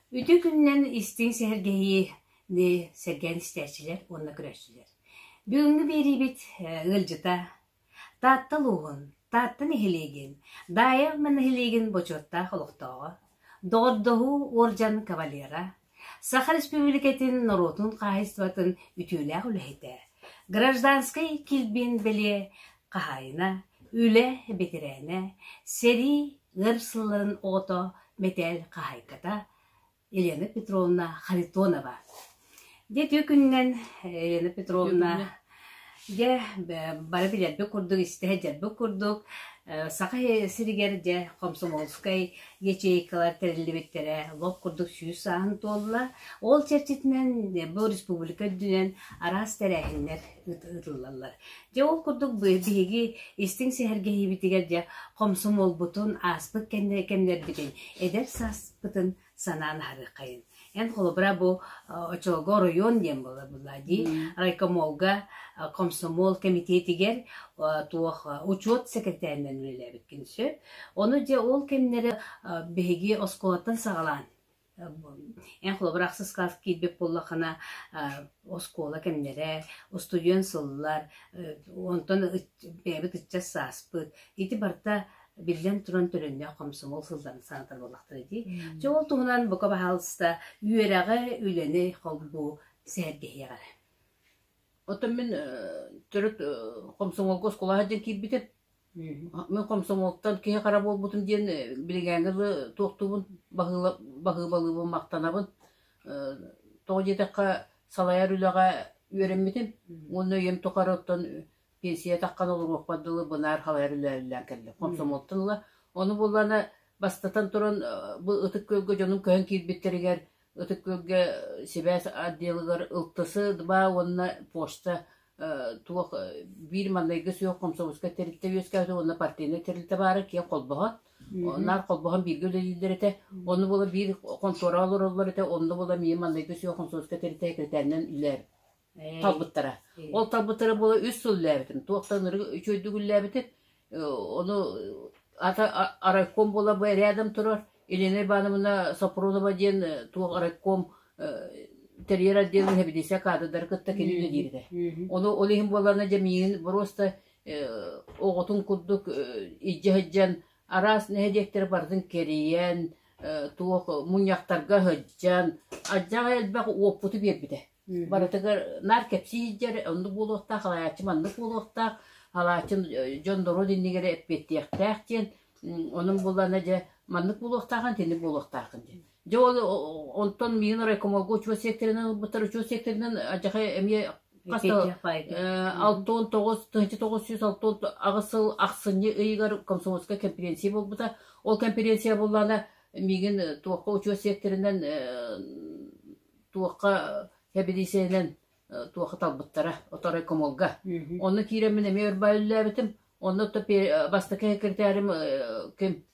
Үтүө күнүнэн истиҥ сэһэргэһиини сэргээн истээччилэр уонна көрөөччүлэр. Бүгүҥҥү биэриибит ыалдьыта Таатта улууһун, Таатта нэһилиэгин, Даайа Ама нэһилиэгин бочуоттаах олохтооҕо, доҕордоһуу уордьан кавалера, Саха Республикатын норуотун хаһаайыстыбатын үтүөлээх үлэһитэ, гражданскай килбиэн бэлиэ хаһаайына, үлэ бэтэрээнэ, сэрии өр сылларын оҕото, мэтээл хаһаайката Елена Петровна Харитонова. Дьэ, түөкүнүнэн Елена Петровна Дьэ, бары билэрбит курдук, истэ сылдьарбыт курдук, Саха сиригэр дьэ комсомольскай ячейкалар тэриллибиттэрэ лоп курдук сүүс сааһын туолла. Ол чэрчитинэн бу республика үрдүнэн араас тэрээһиннэр ыытыллаллар. Дьэ ол курдук биһиги истиҥ сэһэргэһиибитигэр дьэ комсомолбутун ааспыт кэмнэрбитин, эдэр сааспытын санаан аһарыаххайын. Эн холобура бу очолго оройуон диэн буолла дии райкомолга комсомол комитетигэр туох учет секретарынан үлэлээбиккин сөп. Ону дьэ ол кэмнэрэ биһиги оскуолаттан саҕалаан эн холобур ахсыс кылаас киирбит буллахана оскуола кэмнэрэ устудьуон сыллар онтон бэйэбит ыччат сааспыт ити барта Биллэн туран, төлөннөөх хомсомуол сылдьан саатар буоллахтара дии. Дьэ ол туһунан бука баһаалыста үөрэҕи, үлэни холбуу сэһэргэһиэх эрэ. Оттон мин төрүт хомсомуолга оскуолаҕа дьэн киирбитим. Мен хомсомуолтан киһи хара буолбутум диэн билигээҥи лы туохтуубун баһыыбалыыбын махтанабын. Тоҕо диэтэххэ салайар үлэҕэ үөрэммитим уонна үйэм тухары оттон пенсия атаххана олоруохпут дылы бынаар халайар үлэлээн кэллэ хомсомуоттун ыла ону буллана бастатан туран бу ытык күөлгэ дьонум көһөн киирбиттэригэр ытык күөлгэ сибээс отделыгар ылтысы два уонна почта туох биир маннайгы суох хомсомуоска тэрилтэ үөскээбитэ уонна партийнай тэрилтэ баара киэн холбоһот наар холбоһон бииргэ үлэлииллэр этэ ону була биир хонтуора олороллор этэ онно була миин маннайгы суох хомсомуоска тэрилтэ секретарынан үлээр талбыттара. Ол талбыттара буола үс сыл үллээбитин, туохтан ырыга үчүгэйдик үллээбитин, ону ата райком буола бу рядом турар Елена Ивановна Сопронова диэн туох райком терьер отдела хэбилисе каадырдары кытта кинигэ диирде. Ону ол иһин буолана дэмиин боруоста оҕотун курдук ижде хыджан араас нэһедиэктер бартын кэрийэн туох муньяктарга хыджан адьаҕа элбэх уоппуту биэрбитэ. Барытыгар наар кэпсии сылдьар, оннук буолуохтаах, алаайаччы маннык буолуохтаах, алаайччы дьон норуот иннигэр эппиэттиэхтээх диэн, онон буоллаана дьэ маннык буолуохтааҕын, итинник буолуохтаахын диэн. Дьэ ол онтон миин райкомолго учуо сиэктэринэн ылбыттар учуо сиэктэринэн адьахай эмиэ хас алты он тоҕус тыһыынча тоҕус сүүс алты он аҕыс сыл ахсынньы ыйыгар комсомольскай кэмпириэнсийэ буолбута. Ол кэмпириэнсийэ буоллаана миигин туохха учуо сиэктэринэн туохха кэбириисэнэн туохха талбыттара оторой комолга онно киирэн мин эмиэ өр үллээбитим онно то бастакы секретарем ким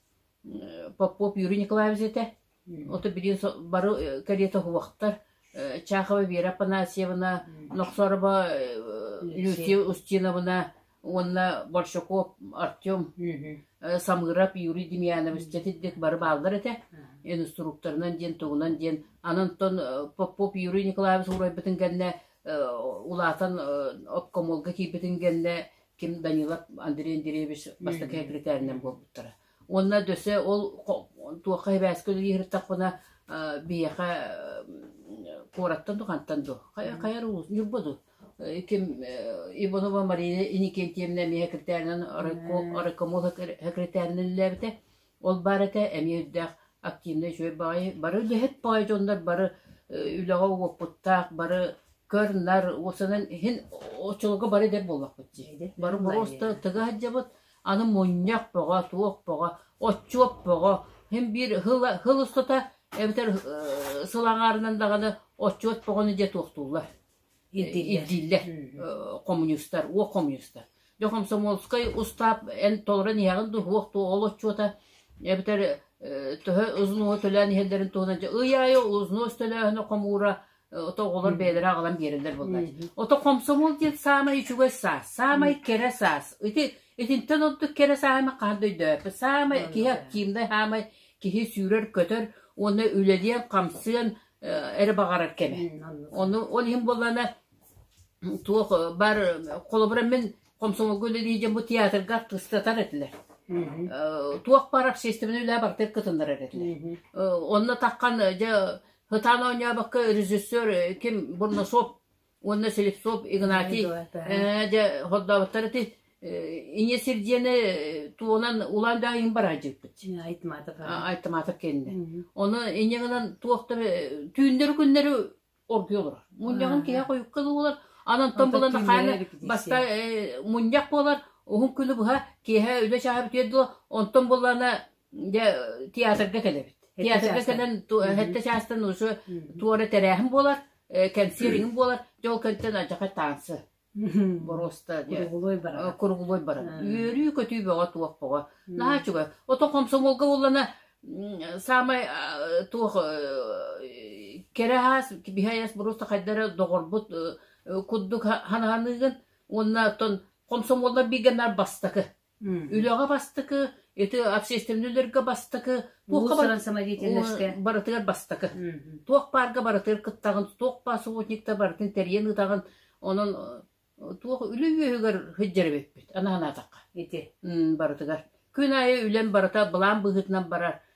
Попов Юрий Николаевич этэ ото билин бары кэриэтэ уһуохтар Чахова Вера Апанасьевна Нохсороба Люсия Устиновна уонна Борщаков Артем, Самыров Юрий Демьянович дьэтиддик бары бааллар этэ инструкторынан диэн тугунан диэн анантон Попов Юрий Николаевич уурайбытын кэннэ улаатан обкомолга киирбитин кэннэ ким Данилов Андрей Андреевич бастакы секретаринэн буолбуттара уонна дөсө ол туохха эбээске үлиһиртахпына биһиэхэ куораттан духантан ду хайар улус ньурба ду ким Иванова Марина Иникентьевна эмиэ секретарынан райкомол секретариниллээбитэ. Ол баар этэ эмиэ үрдээх активнай үчүгэй баҕайы бары үлэһит баҕайы дьоннор бары үлэҕэ уопуттаах бары көр-нар уусанан иһин оччолорго бары дэр буоллахпыт дии. Бары просто тыга сылдьабыт аны мунньах бөҕө, туох бөҕө, отчуот бөҕө, хим биир хыл хыл устата эбэтэр сыл аҥаарынан даҕаны отчуот бөҕөнү дьэ туохтууллар. ирдииллэр хомуньуустар уох хомуньуустар дьэ комсомольскай устаап эн толорон иһэҕин дуо уох туох ол отчуота эбэтэр төһө узнуо төлөөн иһэллэрин туһунан ый аайы узнос төлөөһүнэ хомуура ото оҕолор бэйэлэрэ аҕалан биэрэллэр буоллач ото комсомол диэн саамай үчүгэй саас саамай кэрэ саас ити итинтэн ордук кэрэ сааһыны хаһан да өйдөөппүт саамай киһи активнай саамай киһи сүүрэр көтөр уонна үлэлиэн хамсыан эрэ баҕарар кэмэ. Ону ол иһин буоллана туох бар холобура мин комсомолга үлэлии дьон бу театрга артыстатар этилэр. Туох бар общественный үлэ бартык кытыннар этилэр. Онно такхан дьэ хытаан оонньообакка режиссер ким бурносоп уонна Селецов Игнатий э, дьэ хордообуттар ити инье сир диэни туонан улаан даҕа иҥ бараадьыппыт айтматов айтматов кэннэ ону инье гынан туохта түүннэру күннэру оргуй олорор мунньаҕын киһи хойукка дуулар анантон булан хана баста мунньах буолар уһун күнү быһа киэһэ үлэ чааһы бүтүөр дуу онтон буллана Дьэ, театрга кэлэбит. Театрга кэлэн хэттэ чаастан ушу туора тэрээһин буолар, кэнсиэриҥ буолар, дьол көнтөн адьаха таансы. Боруоста куругулуой барар. Куругулуой барар. Үөрүү-көтүү бөҕө туох боҕо. Наһаа чугай. Ото комсомолга боллана саамай туох кэрэ хаас биһаяс буруста хайдара доҕорбут куддук хананыгын уонна оттон комсомоллар бигэнар бастакы Үлэҕэ бастакы, ити общественнөлөргө бастакы, туохха бар- барытыгар бастакы. Туох баарга барытыгар кыттаҕын, туох баар соботниктар барытын тэрийэн ытаҕын, онон туох үлэ үөһүгэр сылдьар эбиппит, аны санаатахха. Ити. Барытыгар. Күн аайы үлэм барыта былаан быһыытынан барар.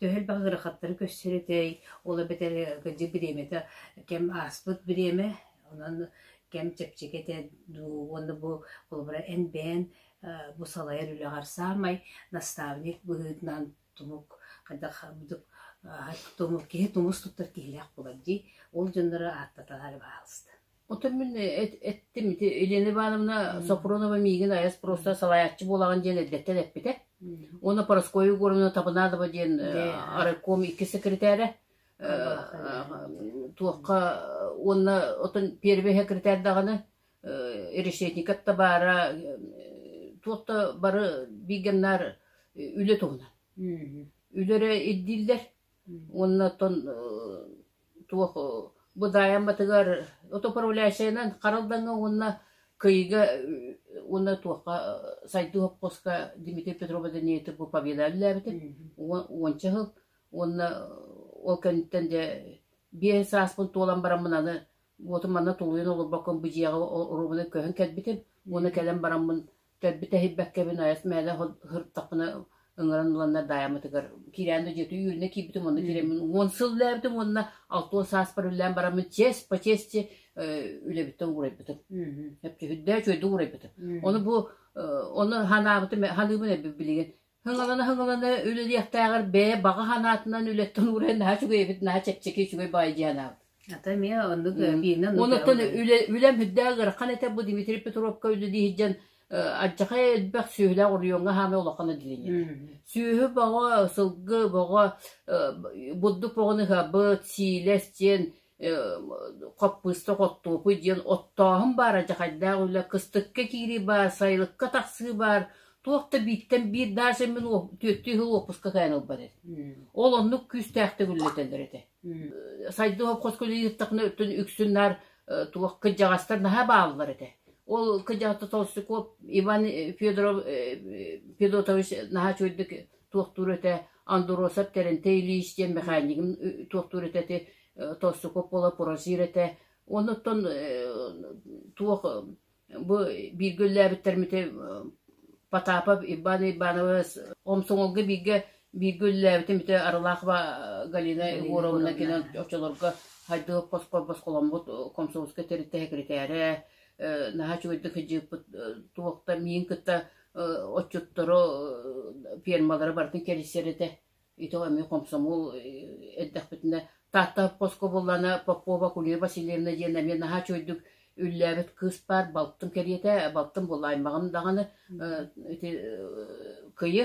төһө элбэх ыарахаттары көрсөр этэй, ол эбэтэр кырдьык бириэмэтэ кэм ааспыт бириэмэ, онон кэм чэпчэки этэ дуу уонна бу холобура эн-бээн бу салайар үлэҕэр саамай наставник быһыытынан тумук хайдах быдык киһи тумус туттар киһилээх буолар дии, ол дьоннору ааттатар баҕаласта Оттон мин эттим ити Елена Ивановна Сопронова миигин айас просто салайааччы буолаҕын диэн эрдэттэн эппитэ. Уонна Порошкову Егоровна Табанадова диэн райком икки секретаря туохха уонна отон первый секретарь даҕаны решетникат табаара туотта бары бигеннар үлэ туһунан. Үлэрэ ирдииллэр Уонна оттон туох быдаайаммытыгар отуправляющайынан харалдаҥҥа уонна кыйга уонна туохха сайдыы хоппуоска Дмитрий Петрову Даниятов повиенна үлэлээбитим уонча сыл уонна ол кэнниттэн дьэ биэс сааспын туолан бараммын аны уотум манна тулуйан олорбоккун бу дьиэҕэ оруобуна көһөн кэлбитим уонна кэлэн бараммын Төрбүт эһийбэккэбин ойос мээлэ сырыттахпына ыҥыран ыланнар даайаммытыгар кирээн да дьиэтэ үөрэнэ киирбитим уонна кирээммин уон сыл үлэлээбитим уонна алта уон сааспар үлэлээн бараммын чиэс по чиэсчи үлэбиттэн уурайбытым. Эпчи үрдээ үчүгэйдик уурайбытым. Ону бу ону ханаабытым ханыыбын билигин Һыҥалана-һыҥалана үлэлиэхтээҕэр бэйэ баҕа санаатынан үлэттэн уурайан наһаа үчүгэй эбит, наһаа чэпчэки, үчүгэй баҕайы дии санаабыт. Ата эмиэ оннук бииринэн Онуттан үлэ үлэм үрдээх ыарахан этэ бу Дмитрий Петровка үлэлии сылдьан адьахай элбэх сүөһүлээх оройуоҥҥа хаамай олоххоно дилиннер. Сүөһү бөҕө, сылгы бөҕө, бурдук бөҕөнү хабыт, сиилэ, сиэн Хаппыыста Хоттуопуй диэн оттооһун баара дьахайдаах үлэ, кыстыкка киирии баар, сайылыкка тахсыы баар, туох да бииртэн биир даа сэммин түөртүү сыл уоппуска каайан ылбат этэ. Ол оннук күүстээхтик үллэтэллэр этэ. Сайды хопхот күлү ыыттахына өттүн үксүн наар туох кыдьаҕастар наһаа бааллар этэ. Ол кыдьаҕата Толстяков Иван Федоров Федотович наһаа чуйдук туохтуур этэ, Андроссов Тэрилтэ Ильич диэн мэхээнньигим туохтуур этэ ити Толстяков буола пурассир этэ уонна оттон туох бу бииргэ үллээбиттэрмитэ Потапов Иван Ивановы Омсоҥолго бииргэ бииргэ үллээбитим ити Арылаахова Галина Егоровна кинэн очолорго хайдах босхоломмут комсомольскай тэрилтэ секретэрэ наһаа үчүгэйдик хыдьыыппыт туохта миин кытта отчуттару фермалары барытын кэрисэр этэ ити эмиэ хомсомол эрдэхпитинэ Таатта хоско буллана Попова Кулина Васильевна диэн эмиэ наһаа чуйдук үллээбит кыыс баар балтым кэриэтэ балтым буллаймаҕым даҕаны ити кыйы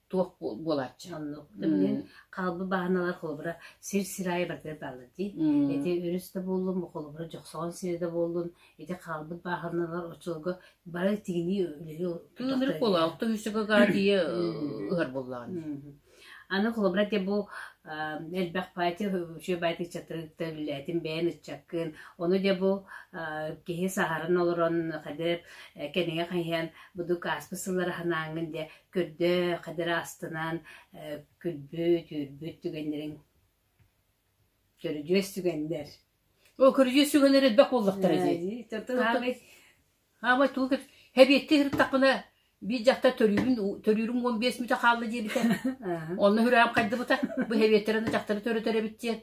туох буолааччы оннук билин хаалбы бааналар холобура сир сир аайы баргар баалар дии ити өрүс да буоллун холобура жохсоҕон сири да буоллун ити хаалбыт бааһыналар очолго бары тигинии үлэги тыынырык буола алта үсүгөга дии ыһар боллаан аны холобура те бу элбэх пати үчүө бати чатырыкта үллээтин бэйэн ыччаккын ону де бу киһи саһарын олорон хадыр кэнэгэ хайан буду кааспы сыллары ханаангын де Күрдэ, хадара астынан күлбүт-түүрбүт түгэннэрин көрүдьүөс түгэннэр. Ол көрүдьүөс түгэннэр элбэх буоллахтара дии. Хаамай тугу хэбиетти сырыттахпына биир дьахта төрүүрүм төрүүрүм уон биэс мүтэ хаалла диэбитэ. Онно үрээм хайдыбыта. Бу хэбиеттэрин дьахтары төрөтөр эбит диэн.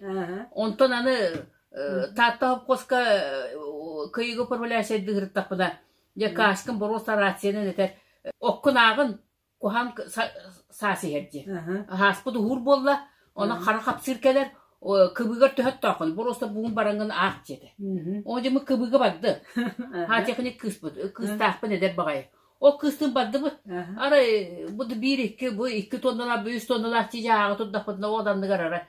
Онтон аны Таатта хопкоска кыйыгы управляющайдыы сырыттахпына Дьэ Кашкин боруоса рацияны этэр оккунааҕын куһаан саас иһэр дии. Ааспыт уһуур буолла, оны хара хапсыыр кэлэр, кыбыгар төһөттөөххүн боруоса буун бараҥын аах диэтэ. Ол дьымы кыбыга барды. Хаатехник кыыспыт, кыыстаахпын эдэр баҕайы. Ол кыыстын бардыбыт. Арай бу биир-икки, бу икки тонналаах, бу үс тонналаах тиийэ ааҕа турдахпытына ол анныгар ара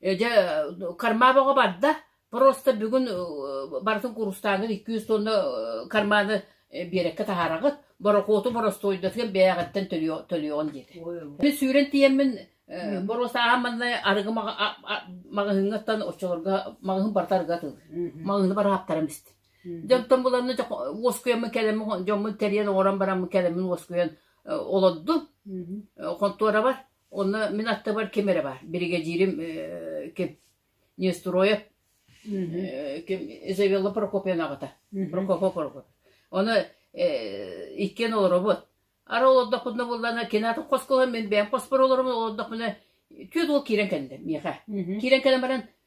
Дьэ кармаам оҕо барда, просто бүгүн барытын куурустааҥҥын икки үс туонна карманы биэрэккэ таһаараҕыт, борокуоту боростуойдатыгар бэйэҕиттэн төлүөҕүн диэтэ. Мин сүүрэн тиийэммин боруосааһын манна арыгы маҕаһыыҥҥаттан оччолорго маҕаһыын барыта арыгы атыылыыр. Маҕаһыыны бары аһаптаран истим. Дьэ оттон буланна уоскуйаммын кэлэммин дьоммун тэрийэн оҥорон бараммын кэлэммин уоскуйан олордум. Хонтуорабар Онно мин аттыбар ким эрэ баар. Биригэдьиирим э, ким? Нестройов э, ким Изавелла Прокопьевна аҕата. Прокопов Прокопьев. Ону э, иккиэн олоробут. Ара олордохпутуна буллана кинатын хосколон мин бэйэм хоспор олором олордохпуна түөт ол киирэн кэллэ миэхэ. Киирэн кэлэн баран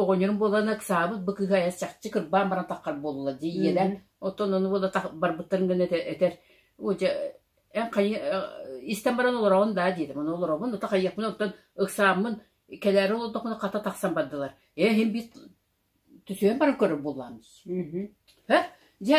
оҕонньорум буолан ыксаабыт бу кыыһа чахчы кырбаан баран таххар буолла дии ийэлэр оттон ону буола барбыттарын гына этэр Уодьа эн хайы истэн баран олороҕун даа диэтим ону олоробун ата хайыахпын оттон ыксааммын кэлээри олордохпуна хата тахсан бардылар ээ иһин биир түсүөн баран көрөр буоллаамыс дьэ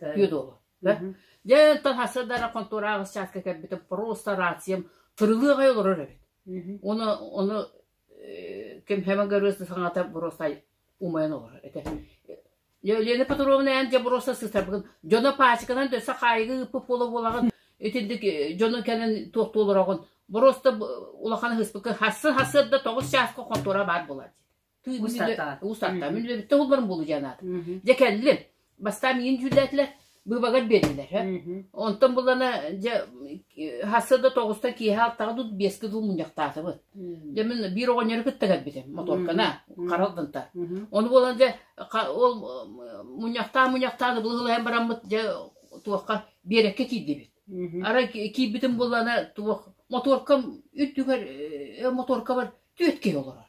Үөд уолу. Дьэ, тасадарар контураҕа счетка кэлбитим, просто рациям тырылыах ай олорор эбит. Оны оны ким хэмэн көрөөс саҥата просто умайан олорор этэ. Лена Петровна эн же просто сытарбын. Дьоно пачканан дөсө хаайгы ыппы буола буолаҕын. Итинник дьону кэлэн туох туолороҕун. Просто улахан хыспыкка хассын хасыр да тоҕус чааска контура баар болар. Уустаттаан. Уустаттаан. Мүлбөбүттэ булбарым булу дианаат. Дьэ кэллим. Бастаан миин дьүүллээтилэр. Быбагар бердилер. Онтон булана дьэ хасса да тоҕуста киэһэ алтаҕа тут биэскэ дул мунньахтаатыбыт. Дьэ мин биир оҕонньору кытта кэлбитим моторкана харалданта. Оны болан дьэ ол мунньахтаа мунньахтааны былыһылайан бараммыт дьэ туохха биэрэкке киирдибит. Ара киирбитим булана туох моторкам үрдүгэр моторка бар түөтке олорор.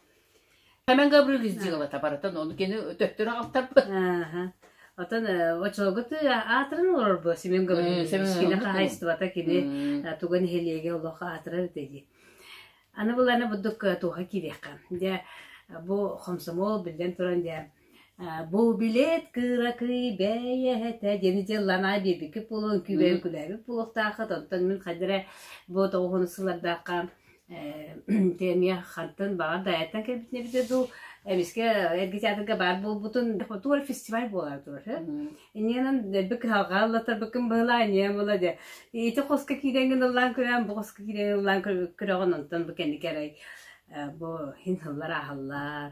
Эмэн Габрыгис дьыалата барытын ону кини төттөрү аҕалтарбыт. Отон очолготы аатырын олорбу Семен Габрилович кини хаһайыстыбата кини туган иһилиэге олох аатырар дии. Аны буланы буддук туха кириэхэ. Дьэ бу хомсомол биллэн туран дьэ Бу билет кыракый бэйэһитэ диэн дьылланаа биэрбикки буолуон күүбэйэн күлээбит буолуохтааххыт. Онтон мин хадыра бу тоҕуһун сыллардахха эмиэ хантан баҕар дайаттан кэлбитинэ эбитэ дуу, эмискэ эргэ театрга баар буолбутун тугу эрэ фестиваль буолара турар. Иннинэн эрби кыһалҕаллатарбыккын быһылаа иннинэн була дэ. Ити хоска киирэн гыналлаан көрөөн, бу хоска киирэн гыналлаан көрөҕүн онтон бу кэнники эрэй бу хин хыллар аахаллар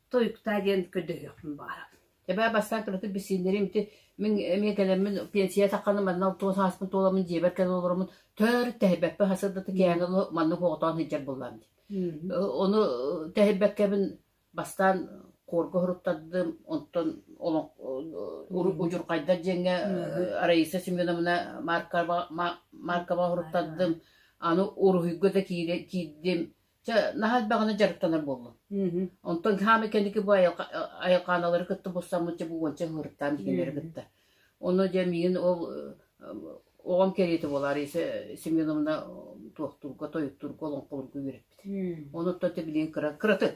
Тойуктаа диэн көрдөһүөхпүн баара. Эбээ бастаан туратык билсииннэрим ити мин эмиэ кэлэммин пенсия тахханы манна туос ааспын туоламмын дьиэбэр кэлэн олороммун төр тэһийбэппин хасырдата кээнэ оло маннык оҕотоон сылдьар буоллам дии. Ону тэһийбэккэбин бастаан куорга хоруттардым, онтон удьурхайдар дьиҥҥэ Раиса Семеновна Маркова Маркова хоруттардым, аны уруһуйга да киирдим, Чэ, наһаа элбэҕинэ дьарыктанар буоллум. Онтон хаамай кэнники бу айылхааналары кытта булсаммыт дьэ бу уонча ыһыыртаан кинилэри кытта. Ону дьэ миигин ол оҕом кэриэтэ буолаар ise Семеновна туохтуурга, тойуктуурга, олоҥхолуурга үөрэппит. Онуттан ты билигин кыра кыратык.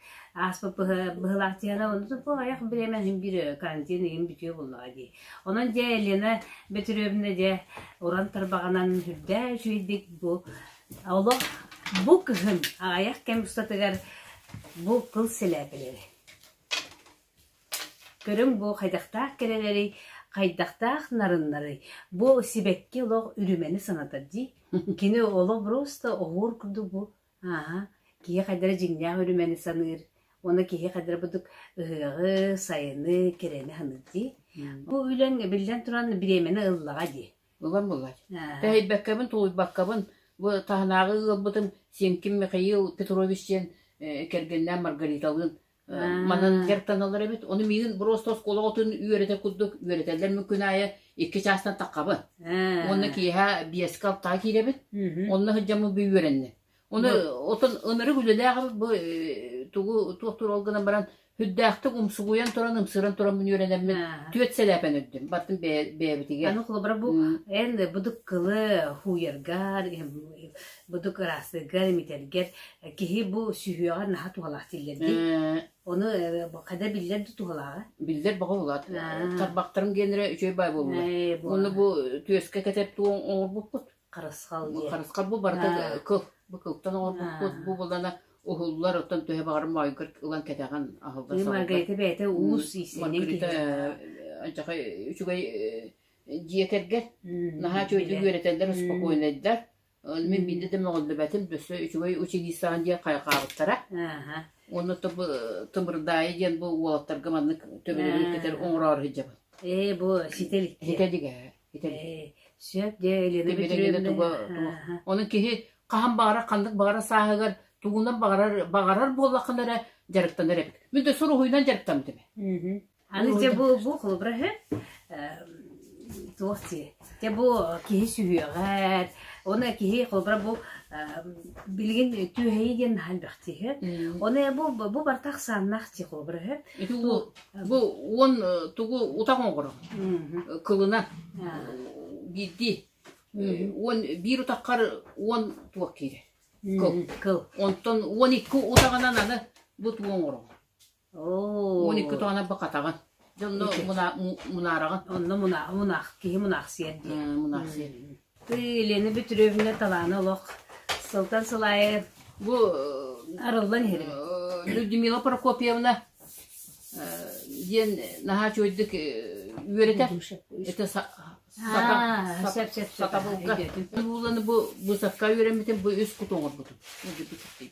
ааспыт быһылаахтыгана ойох бириэмэ биир карантин ыйын бүтүө буллаҕа дии. Онон дьэ Елена Бөтүрүөбүнэ дьэ уран тарбаҕынан үрдээ үчүгэйдик бу олох бу кыһын аҕыйах кэм устатыгар бу кыл сэлээпэлэри. Көрүҥ бу хайдахтаах кэрэлэри, хайдахтаах нарыннары, бу сибэкки олох үрүмэни санатар дии. Кини олох просто оһуур курдук бу Ааһа, киһи хайдара дьиҥнээх үрүмэни саныыр уонна киһи хайдара бурдук ыһыаҕы, сайыны, кэрэни саныыр дии. Бу үлэҥ биллэн туран бириэмэни ыллаҕа дии. Булан булар. Аа. Тэһийбэккэбин, тулуйбаккабын, бу таһынааҕы ыалбытым Сиэҥким Михаил Петрович диэн э, кэргэннээн Маргариталыын Манан гертаналар эбит. Ону миигин просто оскуолаҕытын үөрэтэр курдук үөрэтэллэр мин күн аайы икки чаастан таххабын. Уонна киэһэ биэскэ алтаҕа киирэбит. Онно сылдьаммын би үөрэннэ. Ону отон ынырык үлэлээх эбит бу тугу туох турал гынан баран Хүддээхтик умсугуйан туран, ымсыран туран мин үөрэнэммин түөт сэлээпэн үрдүм. Баттым бэйэтигэр. Аны холобура бу эн быдык кылы хууйарга Бутук ыраастыыргар, имитэргэр киһи бу сүһүөҕэр наһаа туһалаах дииллэр дии. Оны хада биллэр да туһалааҕа. Биллэр баҕа улаат. Тарбахтарым генерэ үчүгэй бай буолла. Оны бу түөскэ кэтеп туон оҥорбуппут. Харысхал диye. Харысхал бу барыта кыл. Бу кылтан оҥорбуппут. Бу булана уһуллар оттон төһө баҕарым майгыр ылан кэтэҕин аһылла сабалла. Маргарита бэйэтэ уус иисинин киһи. Анчахай үчүгэй дьиэтэргэр наһаа чөйдүк үөрэтэллэр спокойнайдар Ол мин биирдэ да мөҕүллүбэтим, өссө үчүгэй училищеҕа диэн хайҕаабыттара. Уонна Тымырдаайы диэн бу уолаттарга маннык төбөлөрү кэтэр оҥороро сылдьабын. Ээ, бу ситэл иккиэ. Итэ дигэ, итэ дигэ. Ээ, сөп дьэ, Елена Петровна. Онон киһи хаһан баҕарар ханнык баҕарар сааһыгар тугунан баҕарар баҕарар буоллаххына эрэ дьарыктанар эбит. Мин да суруһуйунан дьарыктаммытым. Аны те бу бу холобура үһү туох ти те бу киһи сүһүөҕэр оны киһи холобура бу билигин түөһэйи диэн наһаа бэхтиһэ оны бу бу бартах саннах ти холобура үһү ити бу он тугу утаң оҕоро кылынан биирди он биир утаққар он туох киирэ кыл онтон он икки утағынан аны бу туоң оро Моникка туһана бакатаҕын. Дьонно муна- му- мунараҕын. Онно муна- мунах, киһи мунахсыйар диэн. Э, Мунахсыйар. Елена Петровна талаана олох сылтан сыл аайы Бу э, арыллан иһэрин. э, Людмила Прокопьевна э, диэн наһаа чуойдук э, үөрэтэр. Это са- А, сата- сап, сап, сап, сатабылга. идэтин. Уланы бу бысакка үөрэммитим, бу үс куту оҥорбутум. Үгү бититтий.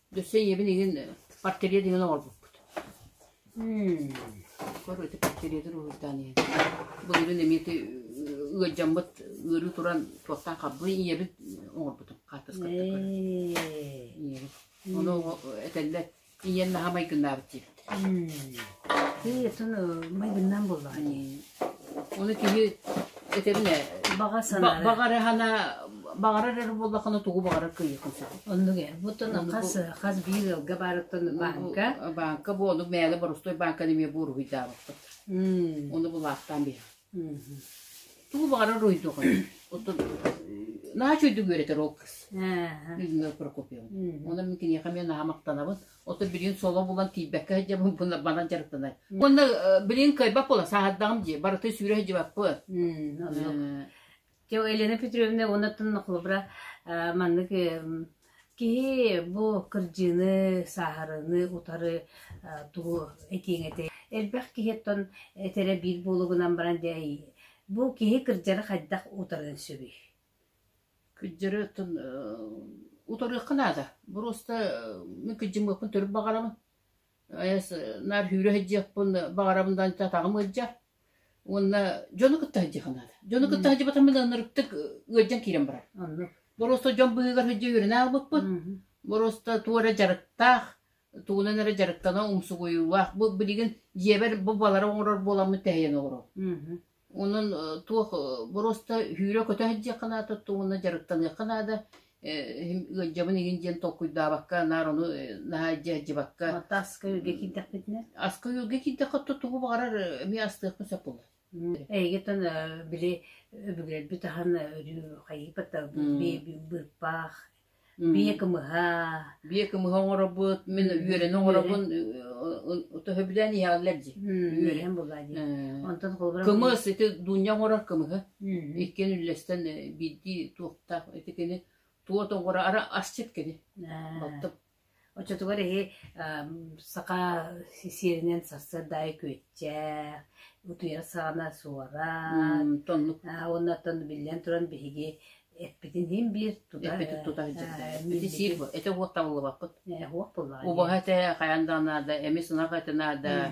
Өссө ийэбин игин портрет игин оҥорбуппут. Көрө ити портретыр уһуйдаан ийэ. Былырын эмиэти ыалдьаммыт ыарыы туран туохтан хабылый ийэбит оҥорбутум хаартыска көрө. Ийэбит. Ону этэллэр ийэн наһамай гыннаабыт диэбит. Ээ, соно майгыннан буоллаҕа ини. Ону киһи этэбин ээ, Баҕа санаара. баҕарыһана баҕарар эрэ буоллаххына тугу баҕарар кыайыахын сөп. Оннук ээ. Буттан хас хас биир ыалга баарыттан баанка. Баанка бу ону мээлэ борустуой баанканы эмиэ бу уруһуйдаабыппыт. М, Ону булаахтаан биһир. мм. Тугу баҕарар уруйдуоҕун. Оттон наачу үрдүк үөрэтэр ол кыз. Ааха. Людмила Прокопьевна. Мм. Онон мин киниэхэ эмиэ наһаа махтанабын. Оту билигин соло булан тиийбэккэ сылдьар булбуннар манан дьарыктанар. Уонна билигин кыайбат буола сааһырдаҕым дии. Барыта сүүрэ сылдьыбаппыт. Те Елена Петровна уоннаттан нохлобра маннык киһи бу кырдьыыны, сааһарыны утары тугу этиэҥ этэй? Элбэх киһиттэн этэрэ биир буолугунан баран дии бу киһи кырдьары хайдах утарыан сөбүй? Кыдьары оттон утарыахха наада. Буруоста мин кыдьыммыппын төрүт баҕарабын. Айас наар сүүрэ сылдьыахпын баҕарабын да аанча атаҕым ыалдьар. Уонна дьону кытта сылдьыахха наада. Дьону кытта сылдьыбатах мин ынырыктык ыалдьан киирэн барар. Оннук. Буруоста дьон быһыыгар сылдьа үөрэнэ хаалбыппын. Буруоста туох эрэ дьарыктаах, тугунан эрэ дьарыктана умсугуйуулаах. Бу билигин дьиэбэр бу балары оҥорор буоламмын тэһийэн олоробун. Онон туох боруоста үһүүрэ-көтө иһэрдиэххэ наада уонна дьарыктаныахха наада ыалдьабын игин диэн толкуйдаабакка наар ону наһаа илдьэ иһэрдибакка Ата аска үөргэ киирдэхпитинэ аска үөргэ киирдэххэ тугу баҕарар эмиэ астыахпын сөп буолла Эйигитин били өбүгэлэрбит ахан өрүү хайыпата быыппаах Биэ кымыһа, биэ кымыһа оҥоробут, мин үөрэни оҥоробун, төһө билэн иһэллэр дии. Үөрэн булаа дии. Онтон холобура кымыс ити Дуунньа оҥорор кымыһы. Иккиэн үллэстэн биирдии туохтаах ити кини туот оҥоро ара асчыт кини. Оттон Оччотугар эһи саха сиэринэн сарсыарда аайы күөччээх, утуйар саҕана суорат, уоннаттан биллэн туран биһиги эппитин иһин биир тута ити сиир бу ити уоттан буллубаппыт убаһа этэ хайаан да наада эмис ынах эти наада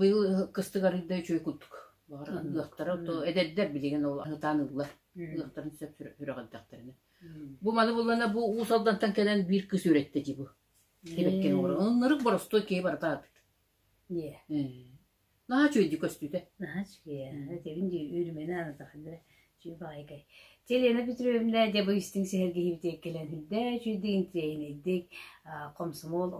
быйыл кыстык арыйда үчүгэй курдук. Баҕар ыһыахтара то эдэрдэр билигин ол аһытаан ыллар. Ыһыахтарын сөп сүрэҕэлдэхтэринэ. Бу маны буллана бу Уус Алдантан кэлэн биир кыс үөрэттэ дии бу. Кибеккен оҥоро. Ынырык боростуой киһи баратаабыт. Ээ. Наһаа үчүгэйдик көстүүтэ. Наһаа үчүгэй. Тebin дии үүрүмэнэ анатахалла. Үчүгэй баҕайытай. Чэ, Лена Петровна, дьэ бу истиҥ сэһэргэһиибитигэр кэлэн үрдээ үчүгэйдик интириэһинэйдик комсомол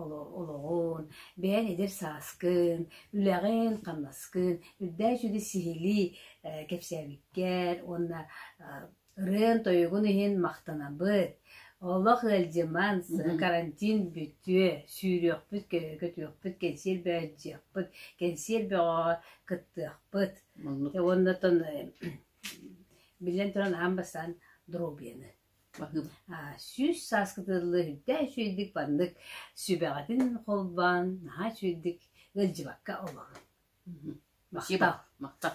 олоҕун, бэйэн эдэр сааскын, үлэҕин, хамнаскын үрдээ үчүгэй сиһилии кэпсээбиккэр уонна ырыан-тойугун иһин махтанабыт. Олох ыалдьыман, карантин бүтүө, сүүрүөхпүт, көтүөхпүт, кэнсиэр бөҕө кэнсиэр бөҕөҕө кыттыахпыт. Уонна биллэн туран аһаан бастаан доруобуйаны аа сүүс саас кытыллы үрдээ үчүгэйдик маннык сүбэҕитин холбоон наһаа үчүгэйдик ыалдьыбакка олоҕун. Махтал. Махтал.